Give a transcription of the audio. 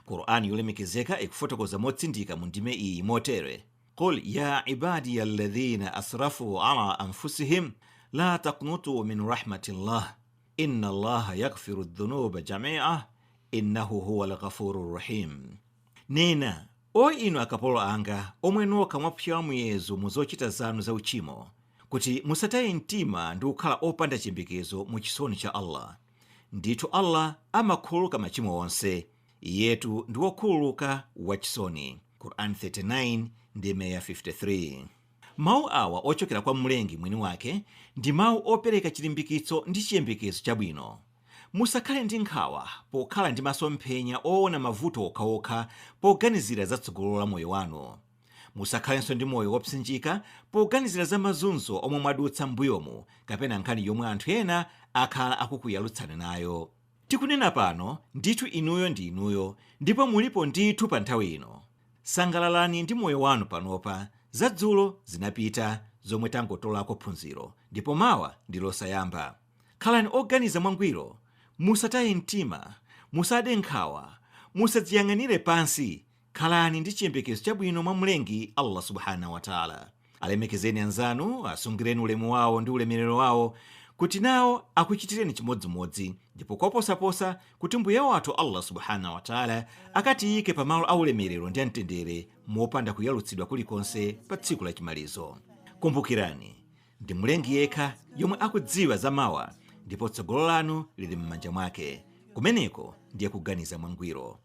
Qur'an yolemekezeka ikufotokoza motsindika mu ndime iyi motere, Qul ya ibadiya alladhina asrafu ala anfusihim la taknutu min rahmatillah inna Allaha yaghfiru dhunuba jami'a innahu huwal ghafurur rahim. Nena, O inu akapolo anga omwe nokha mwapyola muyezo mu zochita zanu za uchimo, kuti musataye mtima ndi kukhala opanda chiyembekezo mu chisoni cha Allah. Ndithu Allah amakhululuka machimo onse, Iyetu ndi Wokhululuka, Wachisoni. Qur'an 39 ndime ya 53. Mau awa ochokera kwa Mlengi mwini wake ndi mau opereka chilimbikitso ndi chiyembekezo chabwino. Musakhale ndi nkhawa pokhala ndi masomphenya oona mavuto okhaokha poganizira za tsogolo la moyo wanu. Musakhalenso ndi moyo wopsinjika poganizira za mazunzo omwe mwadutsa m'mbuyomu kapena nkhani yomwe anthu ena akhala akukuyalutsani nayo. Tikunena pano, ndithu inuyo ndi inuyo ndipo mulipo ndithu pa nthawi ino. Sangalalani ndi moyo wanu panopa, za dzulo zinapita zomwe tangotolako phunziro ndipo mawa ndi losayamba. Khalani oganiza mwangwiro, musataye mtima, musade nkhawa, musadziyang'anire pansi, Khalani ndi chiyembekezo chabwino mwa Mlengi, Allah Subhanahu wa Ta'ala. Alemekezeni anzanu, asungireni ulemu wawo ndi ulemerero wawo, kuti nawo akuchitireni chimodzimodzi, ndipo koposaposa, kuti Mbuye wathu Allah Subhanahu wa Ta'ala akatiyike pa malo a ulemerero ndi a mtendere mopanda kuyalutsidwa kulikonse pa tsiku la chimalizo. Kumbukirani, ndi Mlengi yekha yomwe akudziwa za mawa, ndipo tsogolo lanu lili m'manja mwake. Kumeneko ndiye kuganiza mwangwiro.